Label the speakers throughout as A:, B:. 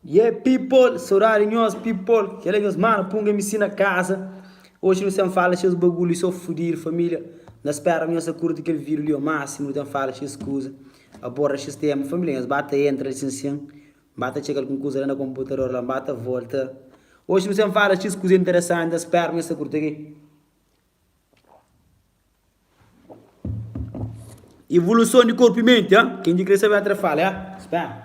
A: Yeah people, saudade nhos people Kel é nhos mano punga MC na casa Oxi nu sen fala xes bagulho so fudido família Na spera nhos ta curti kel vídeo li o máximo Nu ten fala xes kuza Aborraxi stému família nhos ba ta entra sin sin N ba ta txeka algun kuza la na konputador la N ba ta volta Oxi nu sen fala xis kuza interesanti N spera nhos ta kurti ki Ivoluson di korpu i menti ha Ken di kre sabe atra fala ha N spera.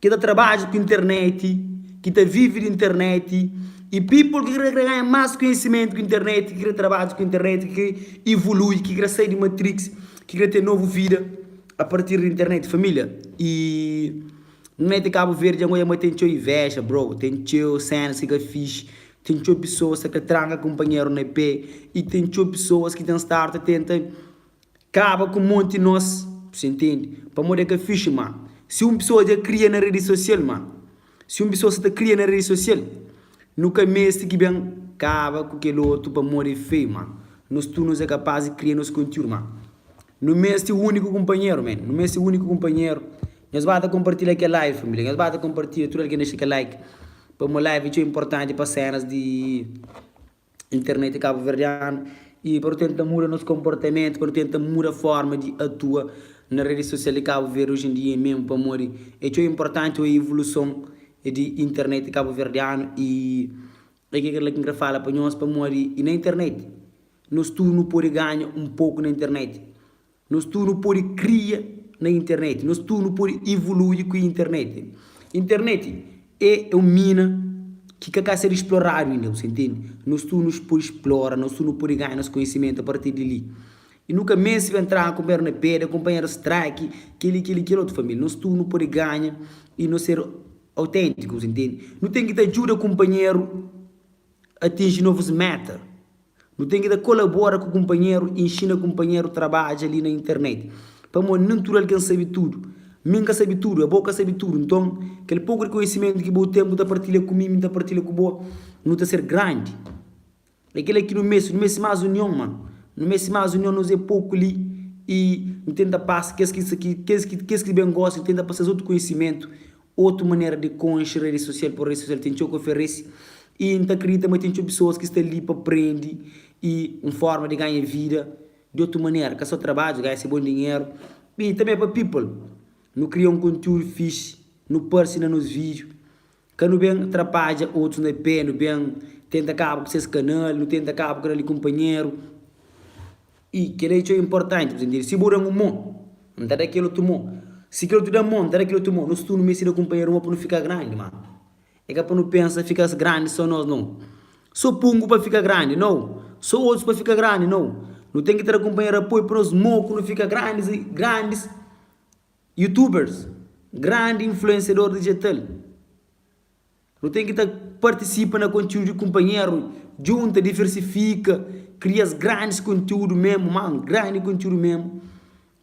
A: ki ta trabadja ku internet, ki ta vive di internet y people ki kre ganha mas konhisimentu ku internet, ki kre trabadja ku internet, ki kre evolui, ki kre sai di matrix, ki kre ten novu vida a partir di internet família y net di cabo verde ango yama ten txeu inveja bro, ten txeu cenas ki ka fixi, ten txeu pessoas sa kre tranka companheiro na pé y ten txeu pessoas ki ten start tenta. Kaba ku monti nos si ntende pamodi e ka fixi ma si un pisoa dja kria na redi sosial ma si un pisoa sa ta kria na redi sosial nu ka mesti ki ben kaba ku kel otu pamodi e feiu ma nos tudu nos e kapas di kria nos kontiudu ma nu mesti uniku kunpanheru men nu mesti uniku kunpanheru nhos ba ta konpartilha kel live família nhos ba ta konpartilha tudu algen dexa kel like pamó live txeu inportanti pa senas di. internet kabuverdianu y pa nu tenta muda nos konportamentu, pa nu tenta muda forma di atua na redi sosial di Kabu Verdi oji en dia memu pamodi e txeu inportanti oiu ivuluson di internet kabuverdianu y e ke kela ki N kre fala pa nhos pamodi na internet nos tudu nu podi ganha un poku na internet Nos tudu pode kria na internet. Nos tudu pode ivolui ku internet. Internet e un mina ki ka ka sedu sploradu inda, bu sa intendi? Nos tudu pode splora, nos tudu pode ganha nos konhisimentu a partir di li. E nu ka meste ben traha kunpanheru na peda, kunpanheru straki, keli, keli, keli otu família. Nos tudu nu pode ganha i nos sedu autentiku, bu sa intendi? Nu ten ki ta djuda kunpanheru atinji novus meta. Nu ten ki ta kolabora ku kunpanheru i inxina kunpanheru trabadja li na internet. Pamodi nen tudu algen sabe tudu. Mi N ka sabe tudu, abo ka sabe tudu. Nton, kel poku di konhisimentu ki bo ten, bu ta partilha ku mi, mi N ta partilha ku bo, nu ta ser grandi. É kel-la ki nu meste. Nu meste más union, mano. Nu meste más union. Nos é poku li i N tenta pasa kes ki, kes ki, kes ki ben gosta, N tenta pasa es otu konhisimentu. Otu manera di konxe redi sosial, pur redi sosial ten txeu ki oferesi i N ta kridita ma ten txeu pesoas ki sta li pa prende i un forma di ganha vida di otu manera, ka so trabadju, ganha se bon dinheru. I tanbe é pa people. Nu kria un kontiúdu fixi, nu parse na nos vídiu, ka nu ben trapadja otus na pé, nu ben tenta kaba ku ses kanal, nu tenta kaba ku kel li kunpanheru. I, Kel-li é txeu inportanti, bu ntende? Si bu da-m un mô, N ta da kel otu mô. Si kel otu da-m mô, N ta da kel otu mô. Nos tudu nu meste da kunpanheru un mô pa nu fika grandi. Má, é ka pa nu pensa fika grandi sô nos, nau. Sô pungu pa fika grandi, nau. Sô otus pa fika grandi, nau. Nu ten ki tra kunpanheru apoiu pa nos mô ku nu fika grandis i grandis YouTubers, grandi influensiador dijital. Nu ten ki ta partisipa na kontiúdu di kunpanheru, djunta, diversifika, kria es grandis kontiúdu mésmu, mano, grandi kontiúdu mésmu.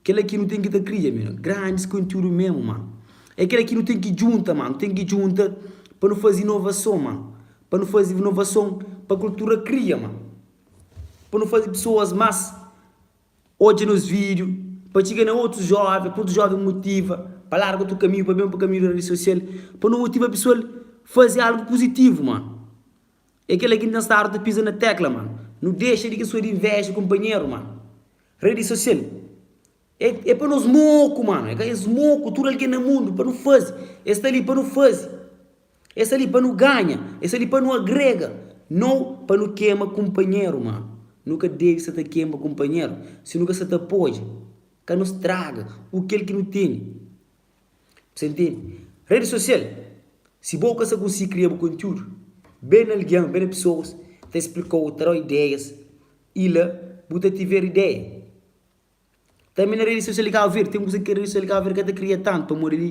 A: Kela ki nu ten ki ta kria, mano, grandis kontiúdu mésmu, mano. É kela ki nu ten ki djunta, mano, ten ki djunta pa nu faze inovason, mano, pa nu faze inovason pa kultura kria, mano, pa nu faze pesoas más. Odja nos vídiu, pa txiga na otus jóven, pa otus jóven motiva pa larga otu kaminhu, pa ben pa kaminhu di redi sosial, pa nu motiva pesoal faze algu puzitivu, mano. É kel-la ki N ten stadu ta piza na tékla, mano. Nu dexa di kes oda invéja kunpanheru, mano. Redi sosial é é pa nos moku, mano. É ka es moku, tudu algen na mundu, pa nu faze. Es sta li pa nu faze. É sta li pa nu ganha, é sta li pa nu agrega, nau pa nu kema kunpanheru. Má, nu ka debe sa ta kema kunpanheru si nu ka sa ta podja ka nu straga u kel ki nu tene. Bu sa ntende? Redi sosial, si bo ka sa kunsi kria bu kontiúdu, ben na algen, ben na pesoas ta splika-u, ta da-u ideias i la bu ta tiver ideia. Tanbe na redi sosial di Kabu Verdi, ten kuza ki redi sosial di Kabu Verdi ka ta kria tantu, pamodi li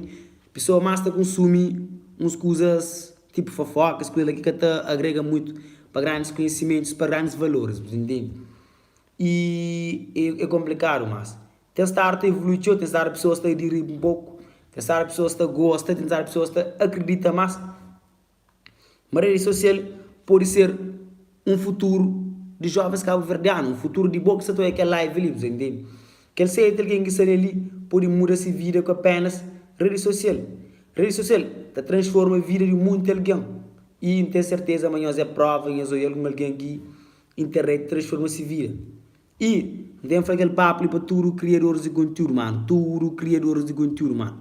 A: pesoa más ta kunsumi uns kuzas tipu fofoka, es kuza la ki ka ta agrega mutu pa grandis konhisimentus, pa grandis valoris, bu ta intende? I e e konplikadu, mas ten stadu ta evolui txeu, ten stadu pesoas ta adiri un poku, ten stadu pesoas ta gosta, ten stadu pesoas ta akridita más. ma redi sosial pode ser un futuru di jovens kabuverdianu, un futuru di bo ki sta ta oja kel live li, bu ta intende? Kel seti algen ki sta na li pode muda se vida ku apenas redi sosial. Redi sosial ta transforma vida di monti algen i N ten serteza ma nhos é prova i nhos oja algun algen ki internet transforma se vida. I N ta ben fla kel papu li pa tudu kriadoris di kontiúdu, manu, tudu kriadoris di kontiúdu, manu.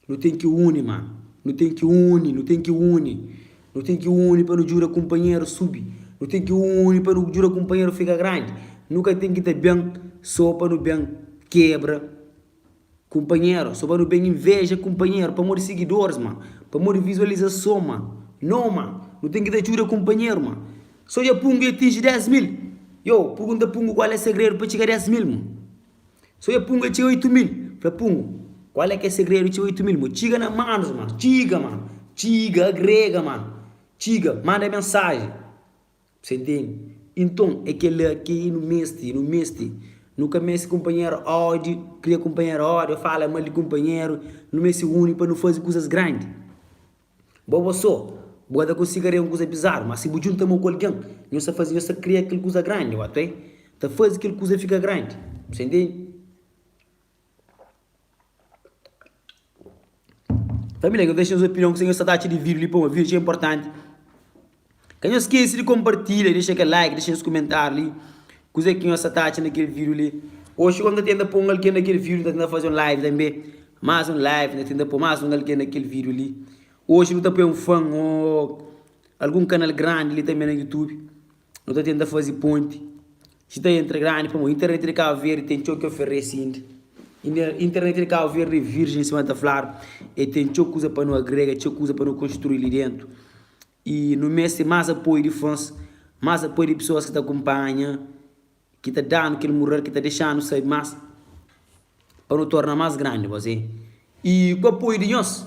A: Nu ten ki uni, mano. Nu ten ki uni, nu ten ki uni. Nu ten ki uni pa nu djuda kunpanheru subi. Nu ten ki uni pa nu djuda kunpanheru fika grandi. Nu ka ten ki ta ben sô pa nu ben kebra kunpanheru, sô pa nu ben inveja kunpanheru pamodi sigidoris, mano, pamodi vizualizason, mano. Nô, mano. Nu ten ki ta djuda kunpanheru, mano. Sô dja Pungu i atinji 10 mil. Iô, purgunta Pungu kual é segredu pa txiga 10 mil, mon. So e punga txeu oitu mil Fla pungu Kual é ke segredu txeu oitu mil Bo txiga na manus mano Txiga mano Txiga agrega mano Txiga manda mensaji Sa intendi Inton é kel-la ki i nu meste i nu meste Nu ka meste kunpanheru ódi Kria kunpanheru ódi ô fala mal di kunpanheru Nu meste uni pa nu faze kuzas grandi. Bo bo so, bu ka ta konsiga krê un kuza bizaru, má si bu djunta mô ku algen, nhos ta faze nhos ta kria kel kuza grandi. Ô até, ta faze kel kuza fika grandi. Bu sta intende? Família, nhos dexa nhos opinion ku se nhos sta ta atxa di vídiu li. Poma, vídiu txeu inportanti. Ka nhos skese di konpartilha, dexa kel like, dexa nhos kumentáriu li Kuzê ki nhos sta ta atxa na kel vídiu li? Oxi gosi N ta tenta pô un algen na kel vídiu N ta tenta faze un live tanbê Más un live, N ta tenta pô más un algen na kel vídiu li Oxi nu ta poi un fan ô algun kanal grandi li tanbê na Youtube Nu ta tenta faze ponti Sti ta entra grandi pamo. Internet di Cabo Verde tem txou ki oferece indi. Internet di Cabo Verde é virgem sima ta fladu. E tem txou kuza pa nu agrega, txeu kuza pa nu konstrui li dentu. E nu meste mas apoio di fans, mas apoio di pessoas ki ta kumpanha, ki ta danu kel mural, ki ta dexanu sabi mas pa nu torna mas grandi gosi. E ku apoio di nhos.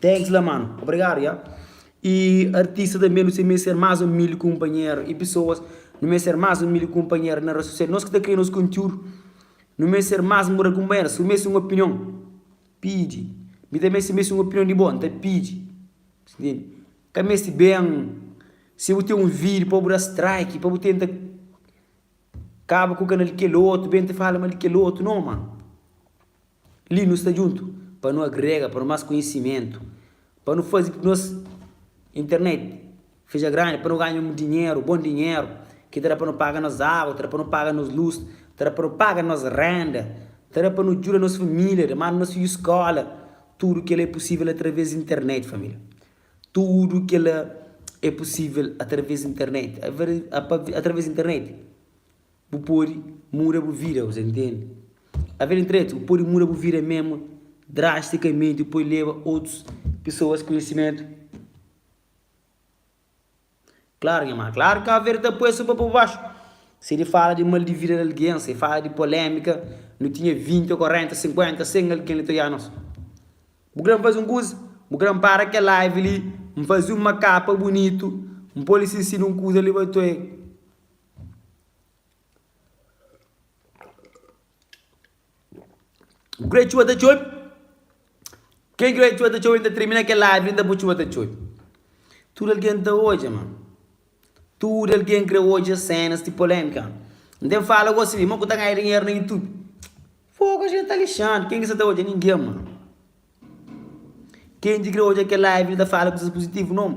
A: Thanks la mano. Obrigado ya. E artista tanbe nu se meste ser mas umilde kunpanher e pesoas nu meste ser mas umilde kunpanher na res sosial nos ki ta kria nos kontiudu nu meste ser mas umilde kunpanher si bu meste un opinion pidi mi tanbe si meste un opinion di bo nta pidi ka meste ben si bu ten un video pa bu da strike pa bu tenta kaba ku kanal di kel otu ben ta fala mal di kel otu no mano. Li nu sta djuntu pa nu agrega pa nu más konhisimentu, pa nu faze nos internet fidja grandi, pa nu ganha un dinheru, bon dinheru, ki ta da pa nu paga nos agu, ta da pa nu paga nos lus, ta da pa nu paga nos renda, ta da pa nu djuda nos família, da manda nos fidju skola. Tudu kel-la é pusível através di internet, família. Tudu kel-la é pusível através di internet. Através di internet. Bu pode muda bu vida, bu ta intende? A vida internet bu pode muda bu vida memu drastikamenti, bu pode leba otus pesoas konhisimentu. Klaru nha mana, klaru Cabo Verde ta poi-s un pa pô baxu, se de fala de mal di vida di algen, se fala de polémika, nu tinha vinti, korenta, sinkuenta, sen algen li ta oiá nos. Bu kre-m faze un kuza? Bu kre-m para kel live li, N faze un makapa bunitu, N pô-l i sinsina un kuza li pa N ta oiá el. Great txuba ta txobe Kel great txuba ta txobe N ta treme na kel árvore Inda bu txuba ta txobe Tudu algen ta odja ma Tudu algen kre odja sénas ti polêmika N ten fala gosi li Mon ku ta ganha dinheru na YouTube Fogu es dja ta lixadu Ken ki sa ta odja? Ningen ma Ken ki kre odja kel live li ta fala kusas puzitivu? Non.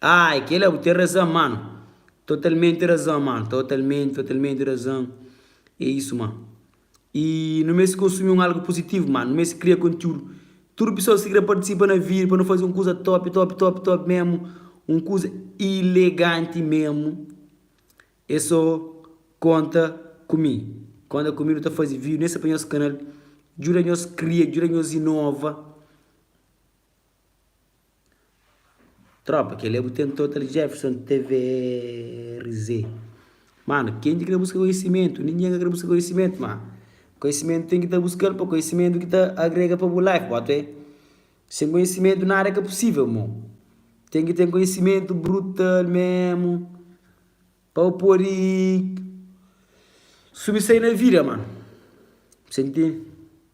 A: Ah é kel-la, bu ten razan, mano Totalmenti razan, mano Totalmenti, totalmenti razan É isu, mano I nu meste konsumi un algu puzitivu, mano Nu meste kria kontiúdu Tudu pesoas ki krê partisipa na vídiu pa nu faze un kuza top, top, top, top mésmu Un kuza ileganti mésmu É sô konta ku mi Konta ku mi nu ta faze vídiu Neste pa nos kanal Djuda-nos kria, djuda-nos inova. Tropa, kel é bu ten total jefferson tvz mano ken ki kre buska konhisimentu ningen ka kre buska konhisimentu ma konhisimentu ten ki ta buskal pa konhisimentu ki ta agrega pa bu life ba twe sen konhisimentu nada ka pusivel mo ten ki ten konhisimentu brutal mesmu pa bu podi subi sai na vida mano sen ti.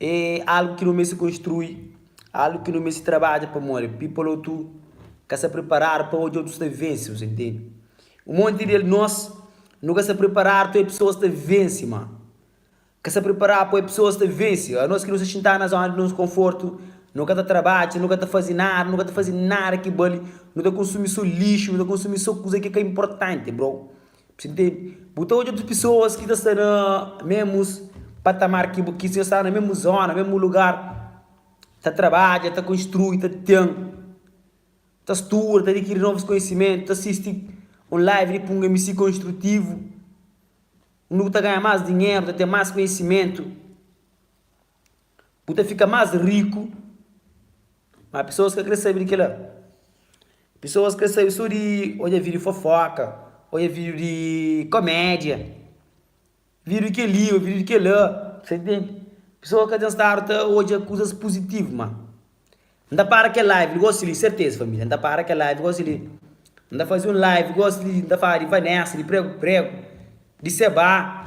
A: É algu ki nu meste konstrui, algu ki nu meste trabadja. Pamodi? People otu ka sta priparadu pa odja otus ta vense. Bos ta intende? Un monti di el, nos, nu ka sta priparadu pa oe pesoas ta vense, ma. Ka sta priparadu pa oe pesoas ta vense. Anos ki nu sta xintadu na zóna di nos konfortu, nu ka ta trabadja, nu ka ta faze nada, nu ka ta faze nada ki bali, nu ta konsumi sô lixu, nu ta konsumi sô kuza ki ka inportanti, bro. Bu ta odja otus pesoas ki ta sta na ménmus patamar ki bu, ki ta sta na ménmu zóna, ménmu lugar, ta trabadja, ta konstrui, ta ten, ta studa, ta adikiri novus konhisimentu, ta sisti un live di Punga MC konstrutivu, undi bu ta ganha más dinheru, ta ten más konhisimentu. Bu ta fika más riku, má pesoas ka krê sabe di kel-la. Pesoas krê sabe sô di odja vídiu di fofóka, odja vídiu di komédia, vídiu di kel-li ô vídiu di kel-la, ta intende? Pesoas ka ten stadu ta odja kuzas puzitivu, má N ta para kel live li gósi li, serteza, família, N ta para kel live gósi li, N ta faze un live gósi li, N ta fala di Vanessa, di pregu-pregu, di sebá.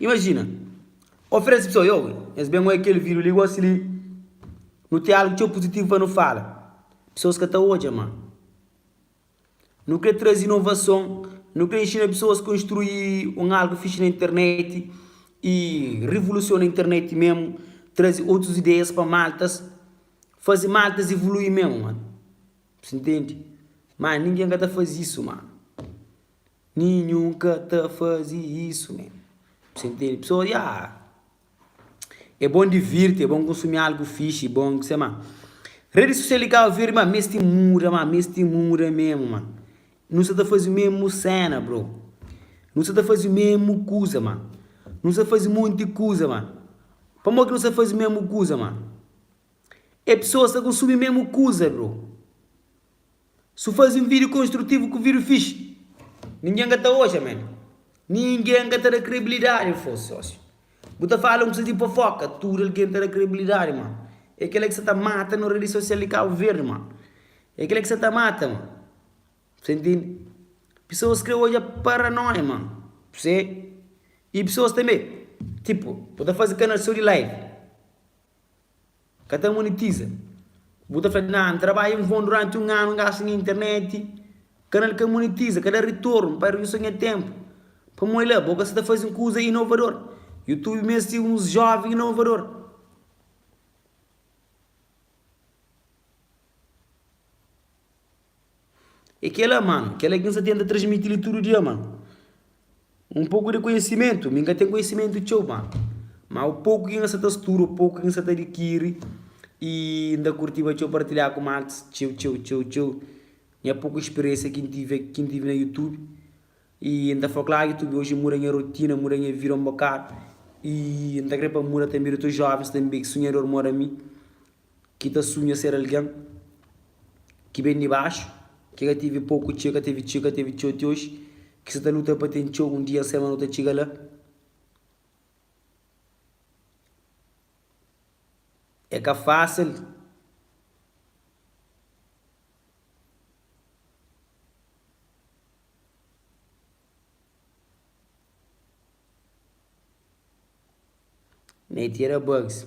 A: Imajina, oferese pesoas, Yo, nhos ben oi kel vídiu li gósi li. Nu ten algu txeu puzitivu pa nu fala. Pesoas ka ta odja, má nu krê traze inovason. Nu krê inxina pesoas konstrui un algu fixi na internet i rivolusiona internet mésmu, traze otus ideias pa Maltas, faze Maltas ivolui mésmu. Si ntende? Má ningen ka ta faze isu, má. Ninhun ka ta faze isu, men. Si ntende? Pesoas, ya, é bon divirti, é bon konsumi algu fixi, é bon kusé. Má redi sosial di Kabu Verdi, má, meste muda, má, meste muda mésmu, má. Nu sta ta faze mésmu séna, bro. Nu sta ta faze mésmu kuza, má. Nu sta ta faze monti kuza, má. Pamodi ki nu sta ta faze mésmu kuza, má? E pessoas ta consumi mesmo kuza bro. Si u fazi un video construtivo ku video fixi, ninguém ka ta oja man. Ninguém ka ta da credibilidade fos socio. Bu ta fala un kuza di fofoka, tudo alguém ta da credibilidade man. E kela ki sa ta mata no rede social di Cabo Verde man. E kela ki sa ta mata man. Bse intindi? Pessoas kre oja paranoia man. Bse, e pessoas tambe, tipo, bu ta fazi canal so di live. Ka ta monetiza. Bu ta fla, Nah, N trabadja en Von duranti un anu, N gasta nha interneti, kanal ka monetiza, ka da ritornu, N pardi so nha tenpu. Pamodi la, bo ka sta ta faze un kuza inovador. Youtube meste uns joven inovador. É kel-la, mano, kel-la ki N sta tenta transmiti-l di tudu dia, mano. Un poku di konhisimentu, mi N ka ten konhisimentu txeu, mano. Má o poku ki N sta ta studa, o poku ki N sta ta adikiri, i N ta kurtiba txeu partilha ku Marx, txeu, txeu, txeu, txeu, nha poku spiriénsia ki N tive, ki N tive na Youtube. I N ta fla-l, kla, Youtube oji muda nha rotina, muda nha vida un bokadu. I N ta krê pa muda tanbê di otus jóvens tanbê, ki sunhador mó di ami. Ki ta sunha ser algen ki ben di baxu, ki ka tevi poku, txeu, ka tevi txeu, ka tevi txeu ti oxi, ki sa ta luta pa ten txeu, un dia, un semana, nu ta txiga la. É ka fasil. Neitira Bugs.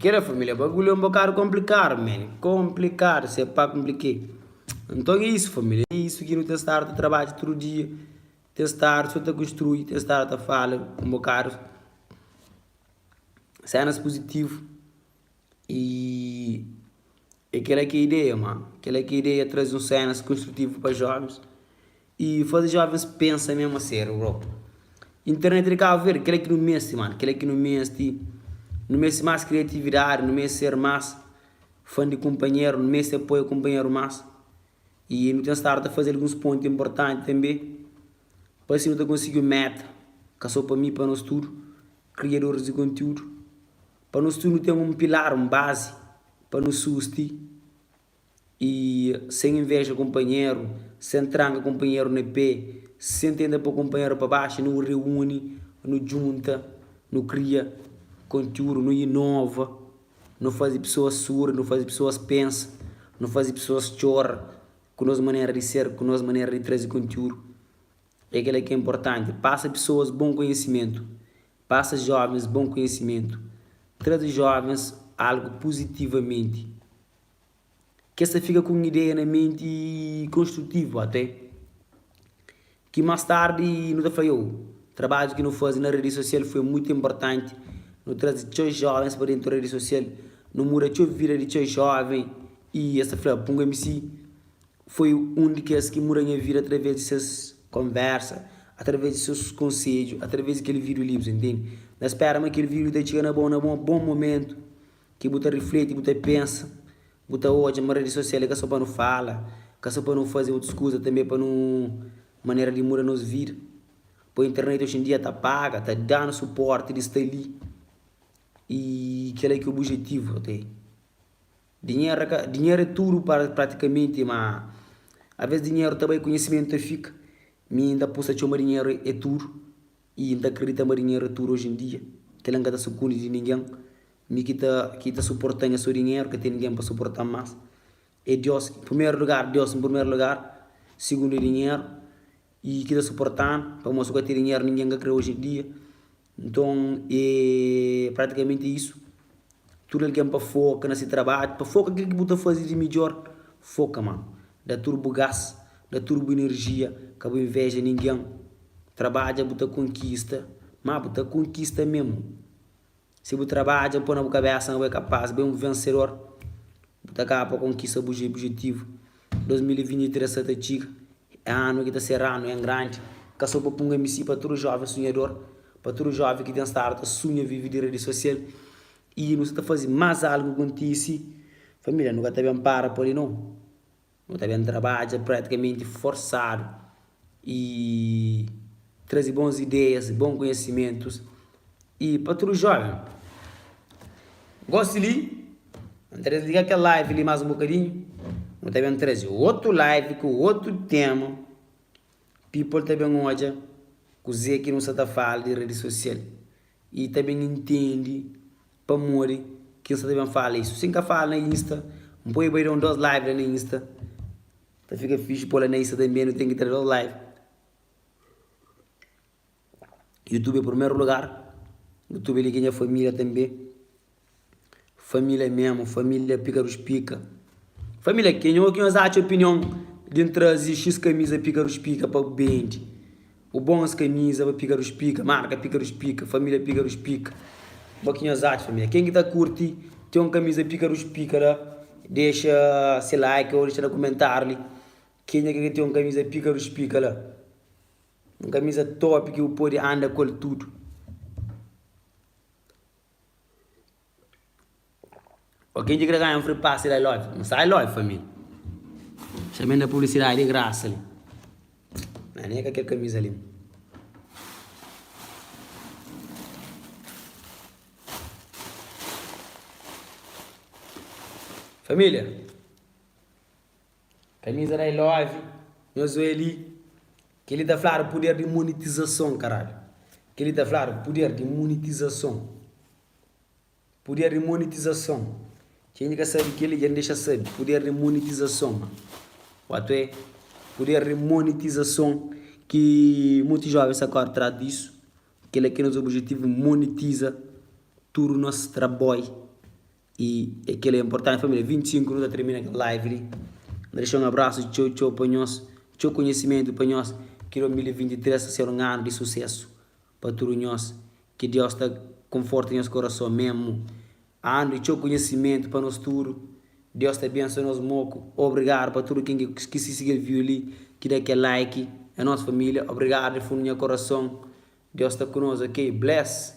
A: Kela família bagulho é un bokadu konplikadu men, konplikadu se pa knplike. Nton é isu família, é isu ki nu ta stadu ta trabadja tudu dia, ten stadu so ta konstrui, ten stadu ta fala un bokadu sénas puzitivu. I é kela ki é ideia ma, kela ki é ideia, traze un sénas konstrutivu pa jóvens. Y faze jovens pensa mesmo a serio bro. Internet di Cabo Verde kel-la ki nu meste mano, kel-la ki nu meste. Nu meste mas criatividade, nu meste ser mas fan di companheiro, nu meste apoia companheiro mas. Y nu ten stado ta faze alguns ponte importante tambe pa assim nu ta konsigi un meta, ka so pa mi, pa nos tudo, criadores di conteúdo, pa nos tudo nu ten un pilar, un base pa nu susti. E sen invéja kunpanheru, sen tranka kunpanheru na pé, sen tenta pô kunpanheru pa baxu, nu reúni, nu djunta, nu kria kontiúdu, nu inova, nu faze pesoas suri, nu faze pesoas pensa, nu faze pesoas txora ku nos manera di ser, ku nos manera di traze kontiúdu. É kel-la ki é inportanti. Pasa pesoas bon konhisimentu. Pasa jóvens bon konhisimentu. Traze jóvens algu puzitivamenti. Kes ta fika ku un ideia na menti konstrutivu até ki más tardi nu ta fla iou. Trabadju ki nu faze na redi sosial foi mutu inportanti. Nu traze txeu jóvens pa déntu redi sosial. Nu muda txeu vida di txeu jóven i es ta fla, Punga MC foi un di kes ki muda nha vida através di ses konvérsa, através di ses konsedju, através di kel vídiu livres. N spera ma kel vídiu ta txiga na bo na un bon momentu. Ki bu ta rifleti, bu ta pensa, bu ta odja ma redi sosial é ka so pa nu fala, ka so pa nu faze otus kuza tanbe é pa nu manera di muda nos vida. Poi internet oxi en dia ta paga, ta danu suporti di sta li y kela ki obujetivu até. Dinheru ka, dinheru é tudu pratikamenti ma avês dinheru ta bai, konhisimentu ta fika. Mi n ta pusa txeu ma dinheru é tudu. I N ta kridita ma dinheru é tudu oji en dia. Kel-la N ka ta sukundi di ningen. Mi ki ta ki ta suporta-m é so dinheru, ka ten ningen pa suporta-m más. É Diós, en primeru lugar, Diós en primeru lugar, sigundu é dinheru i ki ta suporta-m, pamodi si bu ka ten dinheru ningen ka kre-u oji en dia. Nton, é pratikamenti é isu. Tudu algen pa foka na se trabadju, pa foka kel ki bu ta faze di midjor. Foka ma. Da tudu bu gás, da tudu bu inerjia, ka bu inveja ningen. Trabadja bu ta konkista, ma bu ta konkista mesmu. Si bu trabadja, bu poi na bu kabesa ma bu é kapaz, bu é un vensedor, bu ta kaba pa konkista bu obijetivu. 2023 sa ta txiga, é anu ki ta ser anu en grandi, ka so pa punga msi pa tudu joven sunhador, pa tudu joven ki ten stadu ta sunha vive di redi sosial y nu sa ta fazi mas algu kontisi familia nu ka ta ben para pali no, nu ta ben trabadja pratikamenti forsadu i traze bons ideias, bons conhecimentos e pa tudo jovem. Goste li, nu ta desliga kel live li mas um bocadinho, nu ta bem traze outro live ku outro tema, people ta bem odja kuze ki nu sa ta fala di rede social e ta bem intendi pamodi ki nu sa ta bem fala isso, si nka fala na insta, npoi bai da um dos live la na insta. Ta fika fixi pô-la na Insta tanbê, nu ten ki tra dôs live. Youtube é primeru lugar, Youtube é li ki é nha família tanbê. Família mésmu, família pika dos pika. Família, kenha ô ki nhos atxa opinion di N traze X kamiza pika dos pika pa bu bendi? O bom es camisa ba pica dos pica marca pica dos pica família pica dos pica bo ki nhos atxa família quem ki ta curti tem um camisa pica dos pica la deixa se like ou deixa na comentário li quem é ki ka tem um camisa pica dos pica la um camisa top ki bu pode anda ku el tudo. Ok dje ki ta ganha un free pass da ilove N sai ilove família Fitxa mi na publicidade di graça li Mas nem é ka kel camisa li Família Camisa da ilove Nhos oi li Kel li ta fladu poder di monetizason caralho Kel li ta fladu poder di monetizason. Puder di monetizason. Txeu inda ka sabe kel li, dja N dexa sabe. Puder di monetizason. Otu é puder di monetizason ki monti jóven sa kóre tras disu. Kel-la ki é nos obijetivu, monetiza tudu nos trabói. I é kel-la inportanti família. 25 nu ta tirmina kel live li. N ta dexa un abrasu txeu txeu pa nhos. Txeu konhisimentu pa nhos. Ki 2023 ta ser un anu di susésu. Pa tudu nhos ki Diós ta konforta nhos korason memu andu txeu kunhisimentu pa nos tudu Diós ta benso nos moku obrigadu pa tudu ken ki ki si sigiel viu li ki da kel like é nos familia obrigadu di fundu nha korason Diós ta ku nos ok bless.